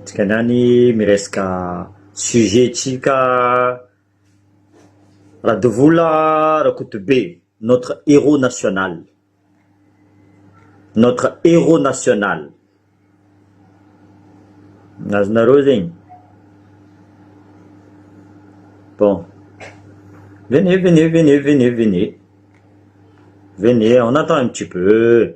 Dikany any miresaka sujet tsika Radovola Rakotobe notre héros national, notre héros national, azonareo zegny? Bon, venez venez venez venez venez, venez on attend un petit peu.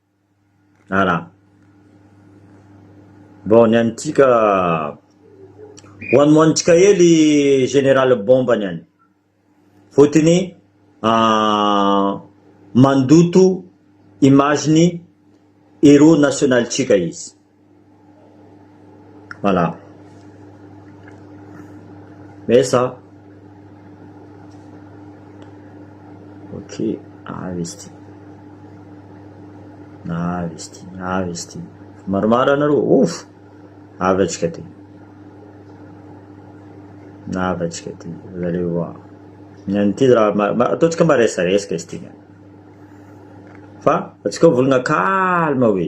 Ara. Bon ny antsika one one tsika hely général bomba ny any fotony mandoto image ny héros national tsika izy. Voilà. Mais ça. Ok, avy izy ity. Avy izy ity, avy izy ity. Maromaro anareo, ouf! Avy atsika aty. Avy atsika aty, vous allez voir. Ny an'ity raha ma- ma- ataontsika mba resaresaka izy ity. Fa atsika ho volana calme hoe.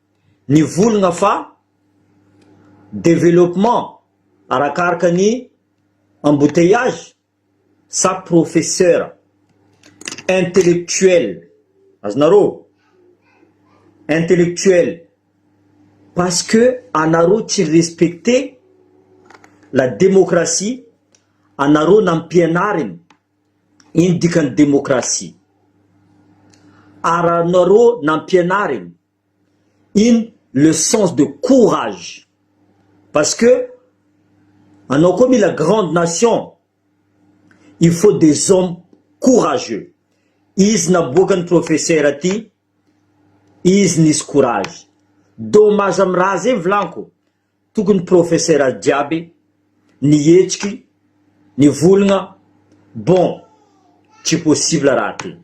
nivolgna fa developpement arakaraka ny embouteillages sa professeur intellectuel azonareo intellectuel parce que anareo tsy respecter la démocratie anareo nampianariny ino dikany démocratie aranareo nampianariny in le sens de courage parce que anao koa mila grande nation il faut des hommes courageux izy naboaka ny professeur ty izy nisy courage dommage am raha zay vilaniko Tokony professeur jiaby ny hetsiky ny volgna bon tsy possible raha ty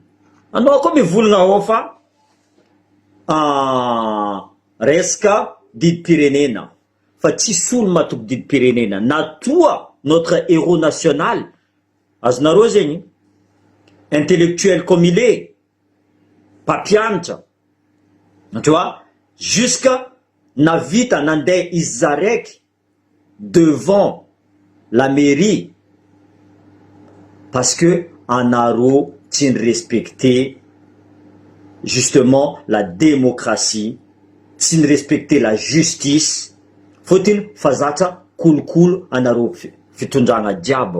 anao koa mivolgna ao fa resaka didim-pirenena fa tsisy olo matoky didim-pirenena na toa notre heros national azonareo zegny intellectuel comme il est mpampianatra tu vois jusqu'à nahavita nandeha izy zaraiky devant la mairie parce que anareo tsy ny respecte justement la démocratie tsy ny respecte la justice fotiny fa zatra kolokolo anareo fitondrana jiaby.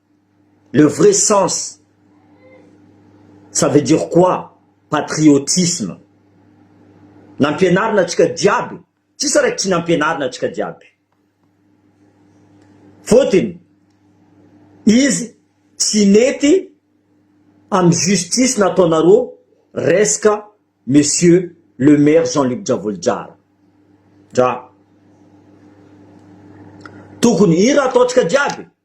Le vrai sens ça veut dire quoi patriotisme nampianarina antsika jiaby tsisy raiky tsy nampianarina antsika jiaby fôtiny izy tsy nety amy justice nataonarô resaka monsieur le maire Jean Luc Javolijara dra tokony hira ataontsika jiaby.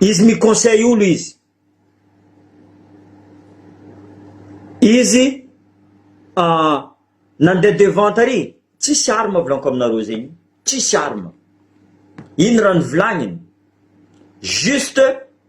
Izy mi conseil olo izy. Izy nandeha devant tary tsisy arme volako aminareo zegny tsisy arme ino raha nivolagniny juste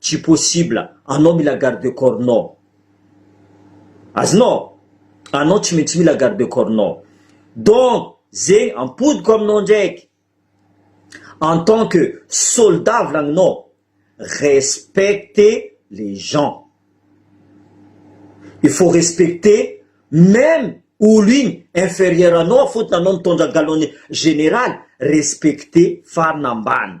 Tsy possible, anao mila garde corps nao. Azonao? Anao tsy maintsy mila garde corps nao. Donc zegny ampodiko aminao ndraiky, en tant que soldat volagninao, respecte les gens. Il faut respecter meme olo igny inferieur anao fotony anao nitondra galon-ny général, respecte farany ambany.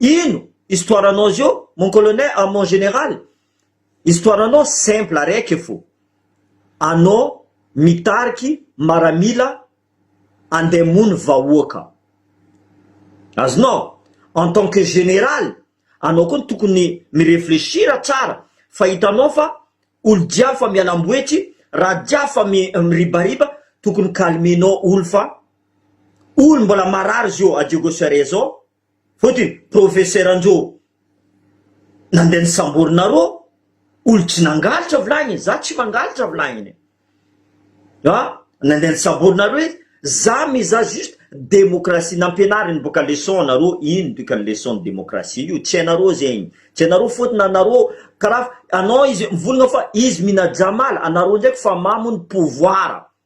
Ino histoire anao zio mon colonel ah mon général? Histoire anao simple araiky fo, anao mitariky maramila andeha hamono vahoaka. Azonao? En tant que général, anao koa no tokony mi-reflechir tsara fa hitanao fa olo jiaby fa mialamboetry, raha jiaby fa miribariba, tokony calmer-nao olo fa olo mbola marary zio à Diego Cerezo, Fotony professeur Njo nandeha nisamborina roa olo tsy nangalatra vilagny za tsy mangalatra vilagny a nandeha nisamborina roa izy za mizaha juste demokrasia nampianariny boka leçon anareo ino dikany leçon ny demokrasia io tsy hainareo zegny tsy hainareo fotony anareo karaha anao izy mivolagna fa izy minajamala anareo ndraiky fa mamo ny pouvoir.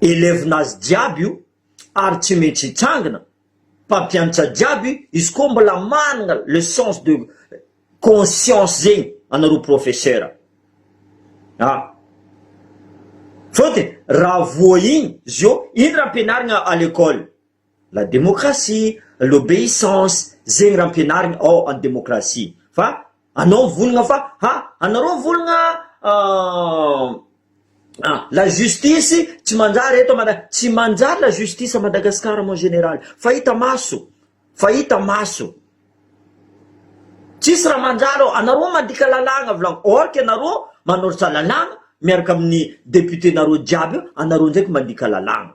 Elevin'azy jiaby io ary tsy metsy hitsangina, mpampiantra jiaby izy koa mbola manana le sens de conscience zegny anareo professeur a! Fôtony raha voa igny zô ino raha ampianarigna à l'école? La démocratie, l'obéissance, zegny raha ampianarigny ao an demokrasia fa anao mivolagna fa ha anareo mivolagna an la justice tsy manjary eto Mada- tsy manjary la justice à Madagascar mon général fa hita maso fa hita maso tsisy raha manjary ao anareo mandika lalàgna volagny or que anareo manortsa lalàgna miaraka amin'ny député nareo jiaby eo anareo ndraiky mandika lalàgna.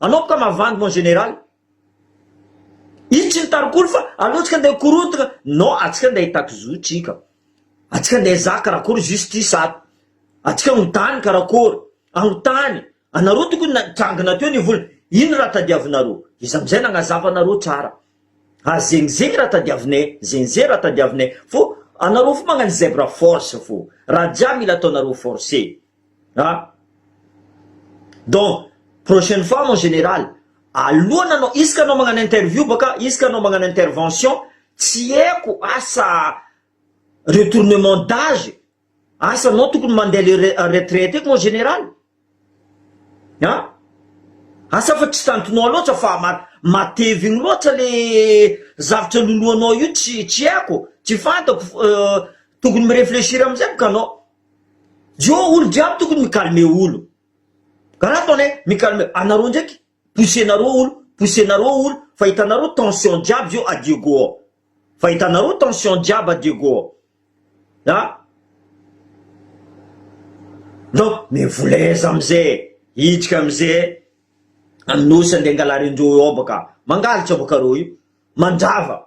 Anomboka mavandy mon général. Itsy ny tarikolo fa aleo tsika ndeha korontgna non atsika ndeha hitaky zo tsika atsika ndeha zaka karakory justice ato atsika anontany karakory anontany anareo tokony na jangina teo ny vola ino raha tadiavinareo izy amizay nagnazava anareo tsara ary zegny zegny raha tadiavinay zegny zegny raha tadiavinay fô anareo fô magnano zèbre force fô raha jiaby mila ataonareo force. An! Donc, prochaine fois mon général, alohana anao, isaka anao magnano interview baka, isaka anao magnano intervention, tsy haiko asa retournement d'age, asa anao tokony mandeha le re- retraite eky mon général? An! Asa fa tsy tantinao loatra fa ma- matevigny loatra le zavatra loloanao io tsy tsy haiko, tsy fantako, tokony mi-réfléchir amizay baka anao. Io olo jiaby tokony mi calme olo ka raha ataonay mi calme anareo ndraiky poussenareo olo poussenareo olo fa hitanareo tension jiaby zao à Diego ao fa hitanareo tension jiaby à Diego ao a donc mivoleza amizay e hiditra amizay aminy nosy ande angalarindreo eo baka mangalatra baka reo io mandrava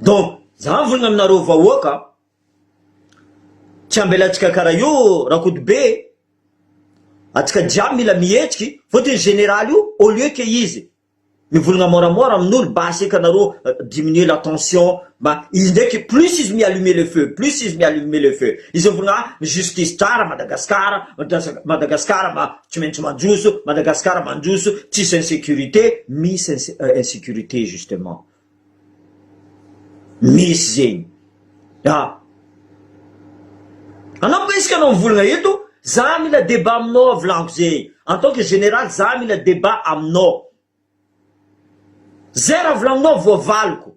Donc za mivolagna aminareo vahoaka tsy ambelantsika kara io Rakotobe atsika jiaby mila mihetsiky fôtony generaly io au lieu ke izy mivolagna môramôra aminolo basy eka nareo diminuer la tension mba izy ndraiky plus izy mi allumer le feu plus izy mi allumer le feu izy mivolagna a justice tsara Madagascar Madagascar ma Tsy maintsy mandroso, Madagascar mandroso, tsisy insecurité, misy insecurité justement. Misy zegny. Ah. Anao koa isika anao mivolagna eto, za mila débat aminao a volagno ze, en tant que général za mila débat aminao. Zay raha volagninao voavaliko.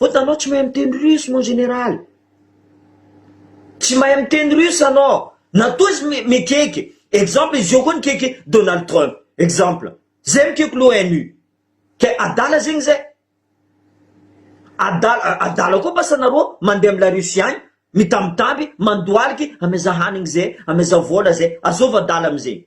Vao tanao tsy mahay miteny russe mon général. Tsy mahay miteny russe anao. Na toa izy mikaiky exemple izy io koa nikaiky Donald Trump exemple. Zay mikaiky l'ONU. Ke adala zegny zay. Adala adala koa basa nareo mandeha am la Russie agny mitambitamby mandoaliky amezaha hanigny zay amezaha vola zay. Azôvy adala amizegny.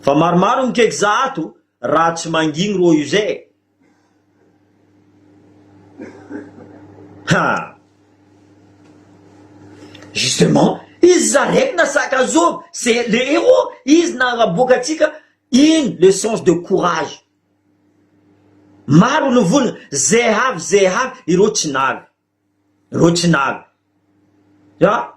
Fa maromaro ny cake za ato raha tsy mangigny rô io zay e! Ha! Justement, izy zareko na sac à zô c'est le héros, izy naharaboaka antsika iny le sens de courage. Maro ny vola, ze avy ze avy ireo tsy navy. rocinal ya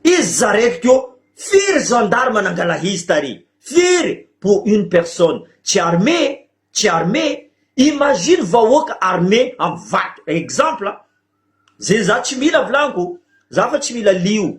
izy zareko teo firy gendarme nangala izy tary firy pour une personne tsy armée tsy armée imagine vahoaka armée am vato exemple ze za tsy mila vlaniko za fa tsy mila lio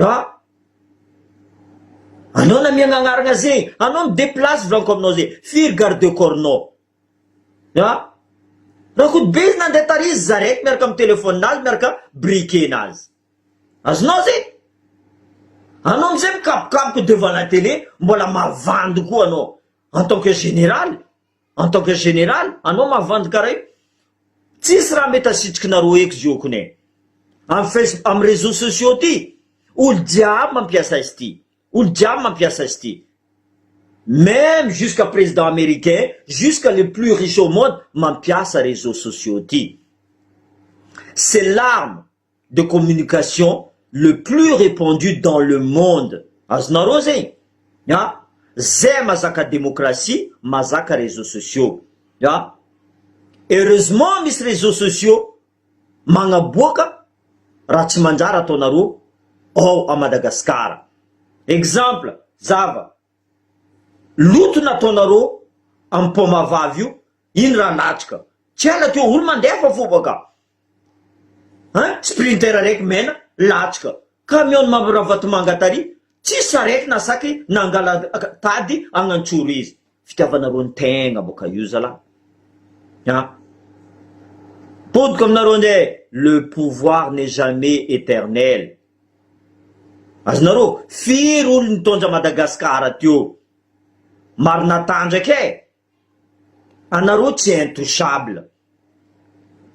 Ah! Anao na mianagnaragna ze, anao mi-deplace volaniko aminao ze, firy garde corps-nao? Ah! Rakotobe izy nandeha tary izy zareko miaraka amin'ny telephone-nazy miaraka briquet-nazy. Azonao ze? Anao amizay mikabokaboko devant la tele mbola mavandy koa anao en tant que général. En tant que général anao mavandy karaio tsisy raha mety asitrikinareo eky zio kone am face am réseaux sociaux ty olo jiaby mampiasa izy ty olo jiaby mampiasa izy ty meme jusqu'à président américain jusqu'à le plus riche au monde mampiasa réseaux sociaux ty c'est l'arme de communication le plus repandu dans le monde azonareo zegny a zay mazaka democratie mazaka reseaux sociaux a heureusement misy reseaux sociaux magnaboaka raha tsy manjary ataonareo ao a Madagascar exemple zava loto nataonareo am paoma vavy io iny raha natrika tsy ela teo olo mandefa fo baka Hein? Sprinter raiky mena latsaka, camion mavo ravatomanga tary, tsisy sarety na saky nangala tady agnantsoro izy. Fitiavanareo ny tegna boka io zalah ah. Potika aminareo nge le pouvoir n'est jamais eternel. Azonareo? Firy olo nitondra Madagascar teo? Marina tanjaka e! Anareo tsy intouchable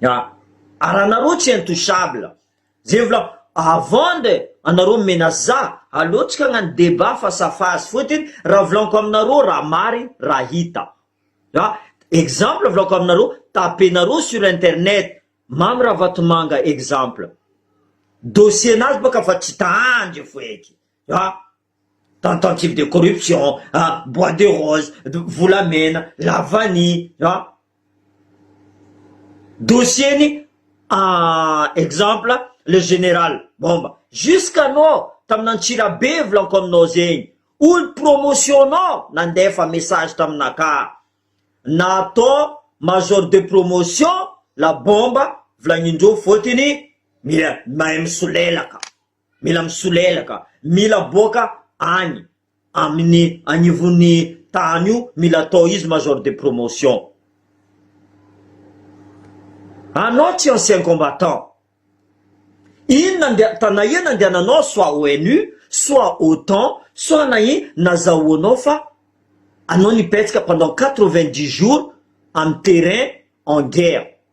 a! Ary anareo tsy intouchable zay vola avant de anareo mi-menace za aleo tsy kagnano débat face à face fotony raha volaniko aminareo raha marigny raha hita a! exemple volaniko aminareo tapenareo sur internet Mamy Ravatomanga exemple dossier nazy bôka fa tsy tandry feky a! tentative de corruption ah, bois de rose, volamena, la vanille ah, dossier-ny ah, exemple le général Bomba, jusqu'à nao tamina Antsirabe volanko aminao zegny, olo promotion-nao nandefa message taminaka, natao major de promotion la Bomba, volagnindreo fotiny mahay misolelaka. Mila misolelaka, mila aboaka any amin'ny anivon'ny tany io, mila atao izy major de promotion. Anao tsy ancien combattant, inona ndeha, ta nahia nandehananao soit ONU, soit otan, soit nahia nazahoanao fa anao nipetsaka pendant quatre-vingt-dix jours amin'ny terrain en guerre.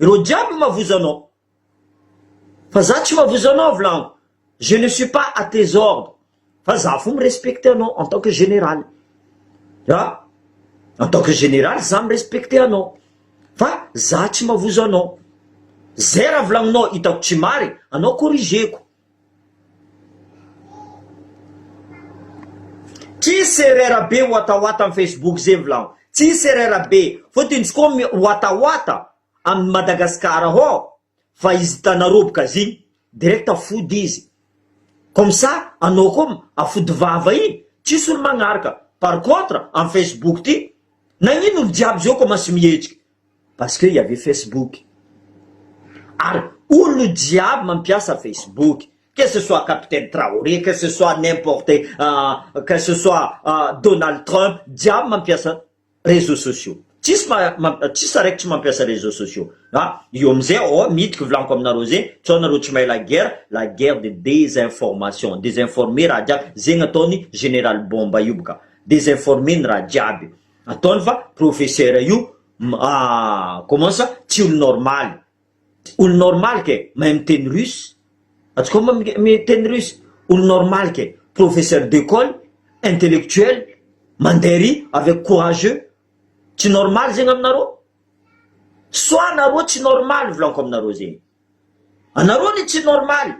ireo jiaby mavozo anao fa za tsy mavozo anao avy laniko je ne suis pas à tes ordres fa za fo mi-respecte anao en tant que général a en tant que général za mi-respecte anao fa za tsy mavozo anao zay raha volagninao hitako tsy marigny anao corrigeko Tsy serera be watawata am facebook ze mvlao tsy serera be fotony tsy koa miwatawata aminy Madagascar hoo fa izy hitanareo boka ziny direct fody izy comme ça anao koa afody vava iny tsisy olo magnaraka par contre am facebook ty nagnino olo jiaby zao kômansy mihetsika Parce que il y avait Facebook ary olona jiaby mampiasa Facebook que ce soit capitaine Traoré que ce soit n'importe que ce soit Donald Trump jiaby mampiasa réseaux sociaux tsisy tsisy araiky tsy mampiasa réseaux sociaux a io amizay ao a mity ko vilaniko aminareo zay sao nareo tsy mahay la guerre la guerre de désinformation désinformer raha jiaby zegny ataony général bomba io bka désinformer ny raha jiaby. Ataony fa professeur io commence tsy olo normaly, olo normaly ke mahay miteny russe, atsika mba miteny russe, olo normaly ke professeur d'ecole, intellectuel, mandeha ery avec courageux, tsy normaly zegny aminareo, soit nareo tsy normaly volaniko aminareo zegny, anareo anie tsy normaly.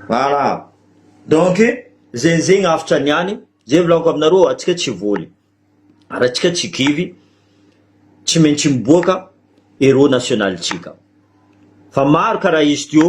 Voilà. Donc, zegny zegny hafatra niany, zay volagniko aminareo antsika tsy voly, raha antsika tsy kivy tsy maintsy miboaka héros national-tsika, fa maro karaha izy teo.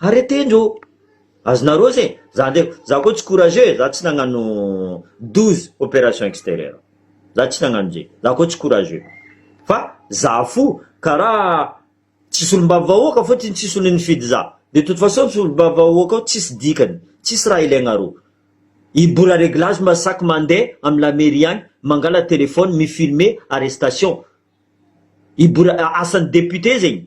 Arrêtez ndrô! Azonareo se! Za ndray za koa tsy courageux e, za tsy nagnano douze opérations extérieures, za tsy nagnano ze, za koa tsy courageux, fa za fo karaha tsy solombavy vahoaka fô tsy tsisy olo nifidy za, de toute façon solombavy vahoaka ao tsisy dikany, tsisy raha ilaignareo, i bola réglage mba sac mande am la mairie agny mangala téléphone mi filmer arrestation, i bola asan'ny député zegny.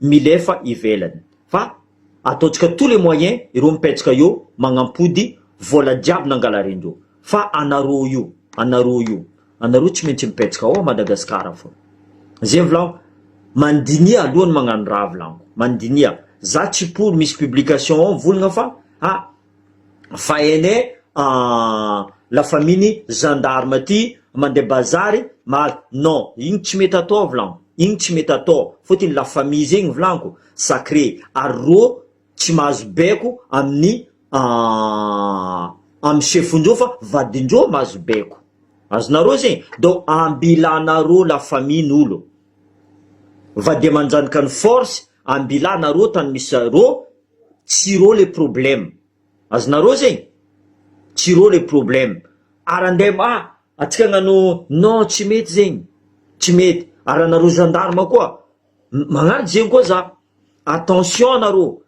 milefa ivelany fa ataontsika tout les moyens ireo mipetsaka eo magnampody vola jiaby nangalarindreo fa anareo io anareo io anareo tsy maintsy mipetsaka ao Madagascar fona zegny volagno mandinia alohany magnano raha volagno mandinia za tsy pour misy publication ao volagna fa ah Fa ene ahh la famille ny gendarme ty mandeha bazary mal non igny tsy mety atao avilanko igny tsy mety atao fotiny la famille zegny vilanko sacré ary rô tsy mahazo baiko aminy ahh amy chefndreo fa vadindreo mahazo baiko azonarô zegny donc ambilanarô la famille nolo vady amanjanaka ny force ambilanarô tany misy rô Tsiro le problème. Azonareo zegny? Tsiro le problème. Ary andeha ma antsika agnano non tsy mety zegny, tsy mety. Ary anareo gendarme koa magnano zegny koa za. Attention anareo.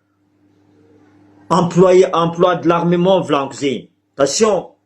Emploie, emploi de l'armement volaniko zegny. Attention.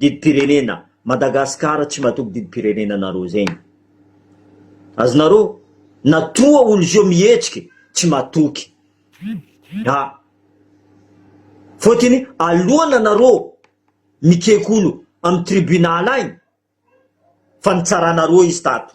Didim-pirenena, Madagascar tsy matoky didim-pirenena nareo zegny. Azonareo? Na toa olo zio mihetsiky tsy matoky. A! Fôtiny alohan anareo mikeky olo am tribunal agny fa nitsaranareo izy tato.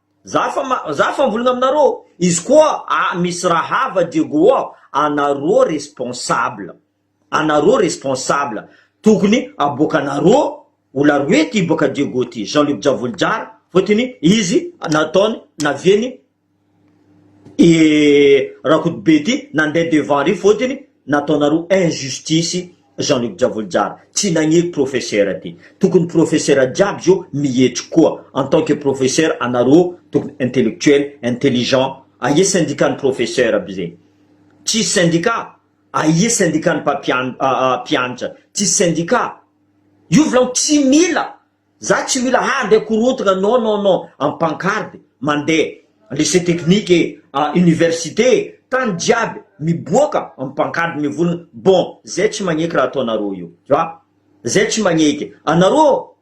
Za fa ma za fa mvolagna aminareo izy koa a misy raha hava Diego a anareo responsable anareo responsable tokony aboakanareo ola roe ty boaka Diego ty Jean Luc Javolojara fotony izy nataony naviany i Rakotobe ty nande devant ry fotony Nataonareo injustice Jean Luc Javolojara, tsy nagneko professeur ty, tokony professeur jiaby zao mihetriky koa, en tant que professeur anareo tokony intellectuel, intelligent, aia syndicat ny professeur aby zay? tsisy syndicat? aia syndicat ny mpampiantra? tsisy syndicat? io volagno tsy mila Za tsy mila handeha korontagna non non non am pancarte mandeha lycée technique e a université e tany jiaby miboaka am pancarte mivolagna bon zay tsy magneky raha ataonareo io tu vois zay tsy magneky anareo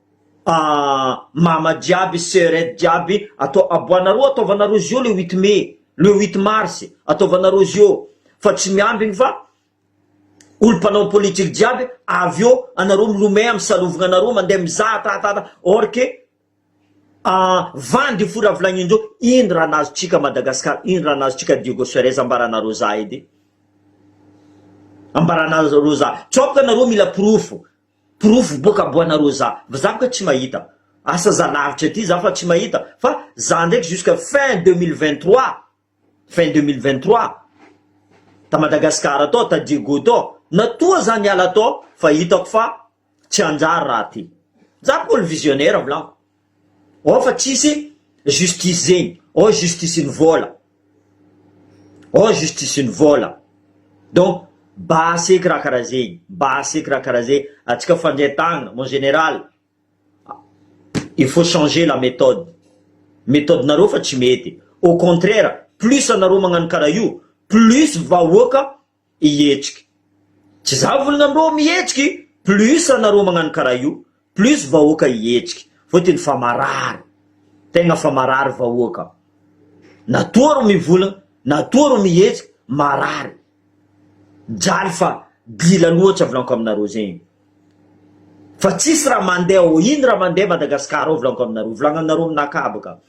a mama jiaby seurette jiaby atao aboanareo ataovanareo zio le huit mai le huit mars ataovanareo zio fa tsy miambigny fa Olo mpanao politique jiaby avy eo anareo milomay am salovigna anareo mandeha mizaha tahatahata or que ah vandy fo raha vilagnindreo ino raha nazotsika Madagascar ino raha nazotsika Diego Suarez ambaranareo za edy ambaranareo za sao ka nareo mila porofo porofo boka aboanareo za fa za boka tsy mahita asa za lavitra aty za fa tsy mahita fa za ndraiky jusque fin deux mille vingt trois fin deux mille vingt trois ta Madagascar tao ta Diego tao na toa za miala tao fa hitako fa tsy hanjary raha ty za ko le visionnaire volako ao fa tsisy justice zegny ao justice ny vola ao justice ny vola donc basy eky raha karaha zegny basy eky raha karaha zegny atsika fandria tagnana mon general Il faut changer la méthode, methodinareo fa tsy mety, au contraire plus anareo magnano karaha io plus vahoaka hihetsiky, tsy za volana amreo mihetsiky plus anareo magnano karaha io plus vahoaka hihetsiky, fotony fa marary, tegna fa marary vahoaka, na toa ro mivolagna na toa ro mihetsiky marary. Mijaly fa dila loatry a vlanko aminareo zegny fa tsisy raha mandeha ô ino raha mandeha Madagascar ao vlanko aminareo vlagnanareo amina kabaka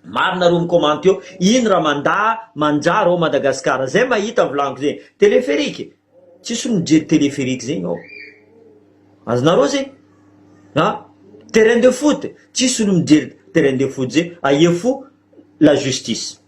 maro nareo micommente eo ino raha manda manjary ao Madagascar zay mahita vlanko zegny téléphérique tsisy olo mijery téléphérique zegny ao azonareo zegny a terrain de foot tsisy olo mijery terrain de foot zegny aia fo la justice.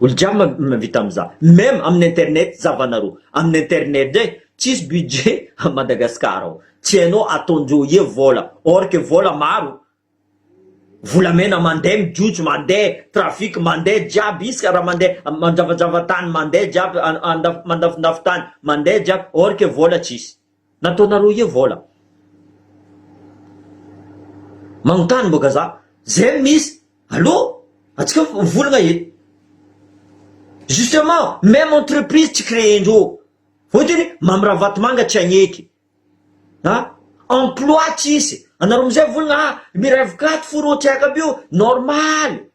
Olo jiaby mavita amza. Meme aminy internet zavanareo. Aminy internet ndray tsisy budget a Madagascar ao. Tsy hainao ataonjeo ie vola. Or que vola maro. Volamena mande mijotso mande trafic mande jiaby isaka ra mande manjavajava tany mande jiaby andafy mandafondafo tany mande jiaby or que vola tsisy. Nataonareo io vola magnontany mbô gazà zay no misy allo antsika mivolagna e justement meme entreprise tsy créer-ndreo vao de ny Mamy Ravatomanga tsy hagneky a emploi tsisy anareo amizay mivolagna a mirevy carte fo rô tsy aiko aby io normal.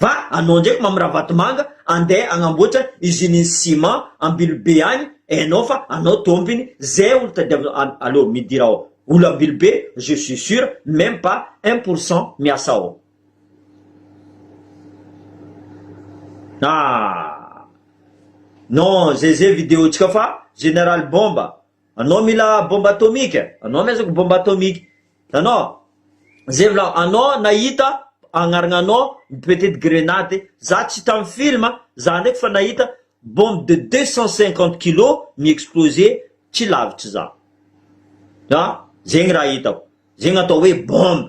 Va anao ndraiky Mamy Ravatomanga andeha agnamboatra usine-n'ny ciment Ambilobe agny enao fa anao tompiny zay olo tadiavin an aleo midira ao olo Ambilobe je suis sur meme pas un pour cent miasa ao ah non zay zay video-tsika fa Général Bomba Anao mila bomba atomique eh? Anao mi azoko bomba atomique anao zay vla anao nahita agnaragna anao petite grenade za tsy tam film za ndraiky fa nahita bombe de deux cent cinquante kilo mi explose tsy lavitry za ah zegny raha hitako zegny atao hoe bombe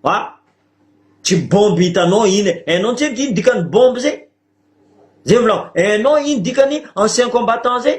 ah tsy bombe hitanao iny eh hainao ntsy edy ino dikany bombe zay zay vla hainao ino dikany ancien combattant zay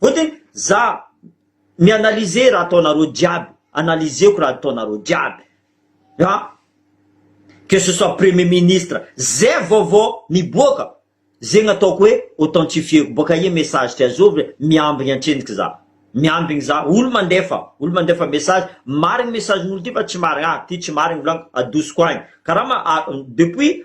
Vote za mi analyser raha ataonareo jiaby, analyseko raha ataonareo jiaby a, que ce soit premier ministre, ze vaovao miboaka zegny ataoko hoe authentifieko, boaka aia message ty azovy re, miambigny antsendriky za, miambigny za, olo mandefa, olo mandefa message, marigny message n'olo ty fa tsy marigny, ah ty tsy marigny volaniko, adosoko agny, karama a, depuis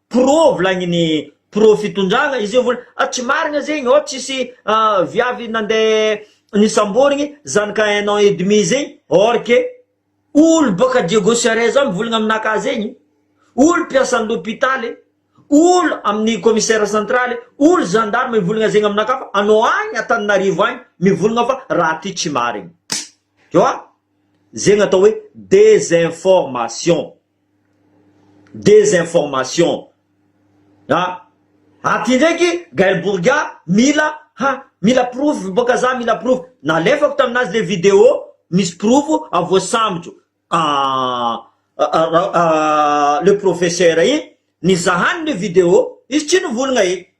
pro volagniny pro fitondragna izy io vola ah tsy marigna zegny ô tsisy viavy nande nisamborigny zanaka un an et demi zegny or que olo boaka Diego Suarez ao mivolagna aminakahy zegny olo mpiasan'ny lopitaly olo amin'ny commissaire central olo gendarme mivolagna zegny aminakahy fa anao agny Antananarivo agny mivolagna fa raha ty tsy marigny tu vois zegny atao hoe desinformation. Desinformation a! Aty ndraiky Gaël Bourga mila ha mila porofo boka za mila porofo, nalefako taminazy le video misy porofo a voasambotro a le professeur iny, nizahany le video izy tsy nivolagna e!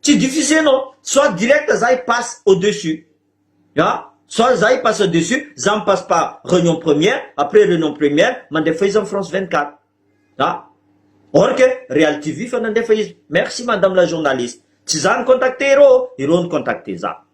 Tsy diffuser non, soit direct za i passe au dessus a, soit za i passe au dessus, za mi passe par reunion première, après reunion première mandefa izy am France 24 a, or que real TV fa nandefa izy, merci madame la journaliste, tsy za ni contacter ireo ô, ireo ni contacter za.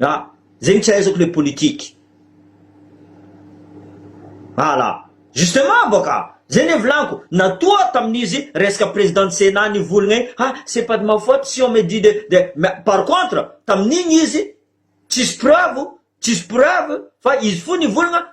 Ah! Zegny tsy ahaizako le politique. Ah la! Justement bôka! Zay le volagnico, natoa tamin'izy resaka président ny Sénat nivolagna igny, ah! C'est pas de ma faute si on me dit de de ma, par contre, tamin'igny izy tsisy preuve, tsisy preuve fa izy fo nivolagna,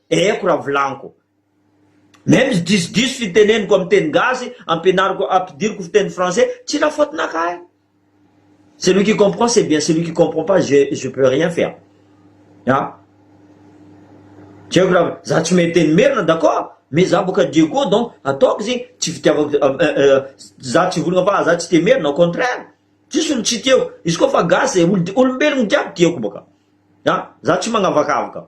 Eko raha volaniko. Même izy disodiso fiteneniko am teny gasy ampianariko ampidiriko fiteny français tsy la faute nakahy. Celui qui comprend c'est bien celui qui comprend pas je je peux rien faire a! Tsy haiko raha za tsy mahay teny merina d'accord mais za boka Diego donc ataoko zegny tsy fitiavako am eh eh za tsy hivolagna fa za tsy tia merina au contraire tsisy olo tsy tiako izy koa fa gasy olo olombelogno jiaby tiako boka a! Za tsy magnavakavaka.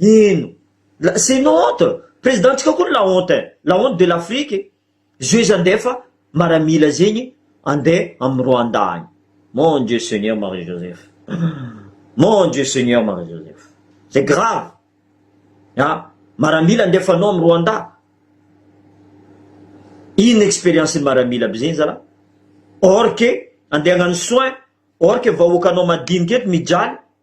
Heno. La c'est une honte. Président ntsika koa la honte eh. La honte de l'Afrique. Zio izy andeha fa maramila zegny andeha am Rwanda agny. Mon Dieu Seigneur Marie Joseph. Mon Dieu Seigneur Marie Joseph. C'est grave. Ha? Maramila andefanao am Rwanda. Inona expérience ny maramila aby zegny zala? Or que andeha hagnano soin or que vahoakanao madinika eto mijaly.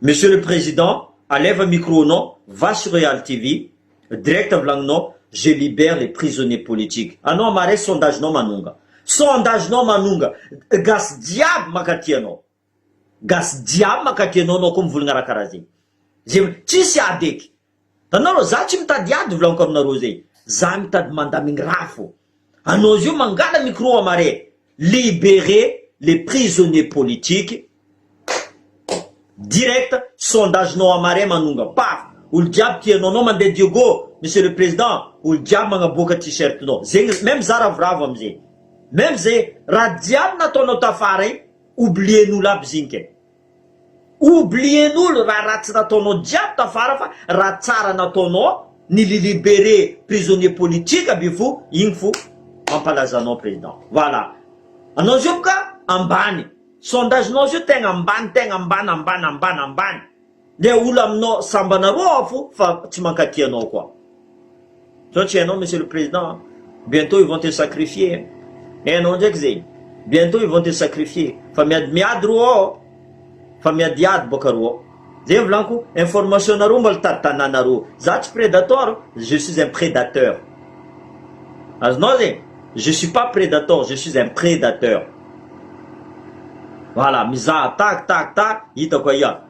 Monsieur le Président aleva micro nao va sur real TV direct volagninao je libère les prisonniers politiques anao ama resy sondage nao manonga sondage nao manonga gasy jiaby makaty anao gasy jiaby makaty anao anao koa mivolagna raha karaha zegny zay tsisy adeky Da nareo za tsy mitady ady volaniko aminareo zay za mitady mandamigny raha fô anao zio mangala micro am are libere le prisonnier politique direct sondage nao am are manonga paf olo jiaby tia anao nao mande diego monsieur le president olo jiaby magnaboaka t-shirt nao zegny meme za ravoravo amzay meme zay raha jiaby nataonao tafara igny oublier nolo aby zinke. Oublien'olo raha ratsy nataonao jiaby tafara fa raha tsara nataonao ny li libere prisonnier politique aby fo igny fo mampalaza anao president voilà anao zio boka ambany sondage nao zio tegna ambany tegna ambany ambany ambany ambany Le olo aminao sambana roa avy fa tsy mankaty anao koa. Zao tsy hainao monsieur le président a. Bientôt ils vont te sacrifier hein. Hainao ndraiky zegny. Bientôt ils vont te sacrifier. Fa miady miady ro ao. Fa miadiady boka ro ao. Zay volaniko information nareo mbola tady tanana ro. Za tsy predator, je suis un prédateur. Azonao zegny. Je suis pas predator, je suis un prédateur. Voilà, mizaha tak tak tak hitako aia.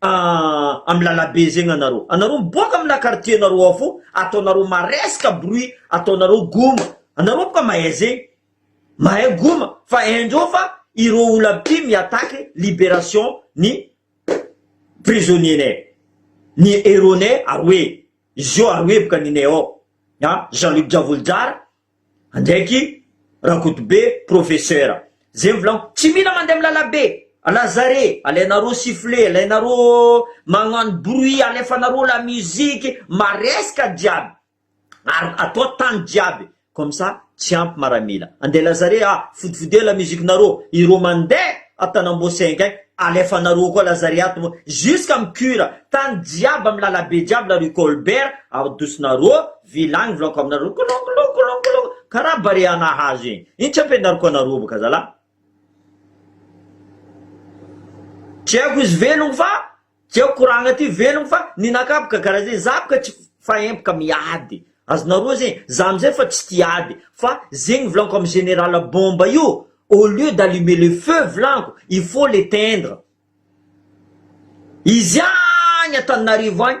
am lalabe zegny anareo anareo miboaka amina quartier nareo ao fô ataonareo maresaka bruit ataonareo goma anareo boka mahay zegny mahay goma fa haindreo fa ireo olo aby ty mi attaque liberation ny prisonnier nay ny heros nay aroe izy io aroe boka ninay ao a Jean Luc Diavoly Jara Andraiky Rakotobe Professeur. Zay ny volagno. Tsy mila mandeha amin'ny lalabe. Lazare, alainareo sifflet, alainareo magnano bruit, alefanareo la musique, maresaka jiaby, ary atao tany jiaby. Comme ça, tsy ampy maramila. Andeha Lazare a, fodifodeo la musique-nareo. Ireo mandeha an-tanamboa cinq agny, alefanareo koa Lazare ato moa, jusqu'à amin'ny cure. Tany jiaby amin'ny lalabe jiaby la rue Colbert, adosinareo Vilagny vlako aminareo kolokolokolokolo karaha barea nahazo igny ino tsy ampianariko anareo baka zalah tsy haiko izy velogno fa tsy haiko koragna ty velogno fa ninakah baka karaha zegny za baka tsy faempoka miady azonareo zegny za amizay fa tsy tia ady fa zegny vilaniko amy general bomba io au lieu d'allumer le feu vilaniko il faut l'éteindre izy agny antananarivo agny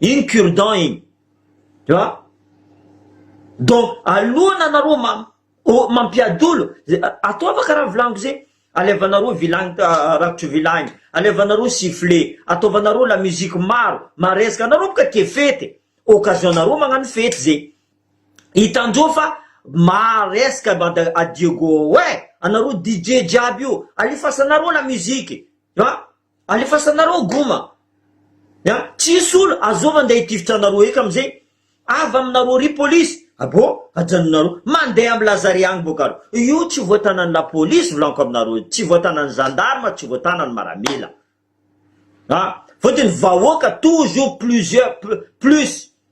Iny cure dent iny. Tu vois? Donc alohan anareo ma mampiadolo ze ataova karaha volaniko ze alevanareo vilagny rakotry vilagny alevanareo sifflet ataovanareo la musique maro maresaka anareo boka tia fety e occasion nareo magnano fety ze hitandreo fa maresaka banda adieu go oe anareo DJ jiaby io alefasanareo la musique tu vois. Alefasanareo goma a! Tsisy olo azoo mandeha hitifitra anareo eka amzay avy aminareo ry polisy aboo ajanonareo mandeha am lazare agny boka alo io tsy voatanany la polisy volanko aminareo tsy voatanany zandarma tsy voatanany maramila a! Fotony vahoaka tojo plusieurs plus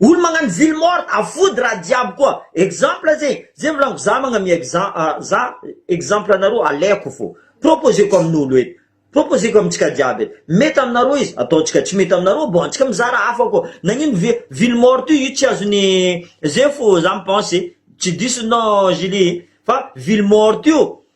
Olo magnano ville morte afody raha jiaby koa exemple ze ze volaniko za magnamia exem a za exemple anareo aleko fô proposeko aminolo eto proposeko amintsika jiaby eto mety aminareo izy ataontsika tsy mety aminareo bon antsika mizara hafa koa nagnino ve ville morte io tsy azony ze fô za mi pense tsy diso nao Julie fa ville morte io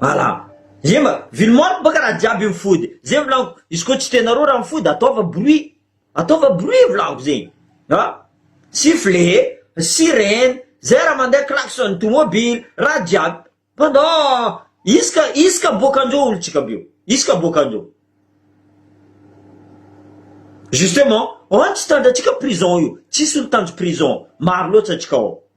Ala. Ye ma. Vily mort baka raha jiaby io mifody zay volagno izy koa tsy tenareo raha mifody ataova bruit ataova bruit volagno zegny a sifflet sirene zay raha mandeha klaxon tomobily raha jiaby pendant isaka isaka boakanjeo olontsika be io isaka boakanjeo justement an tsy tanjatsika prison io tsisy olo tanjo prison maro loatsa atsika ao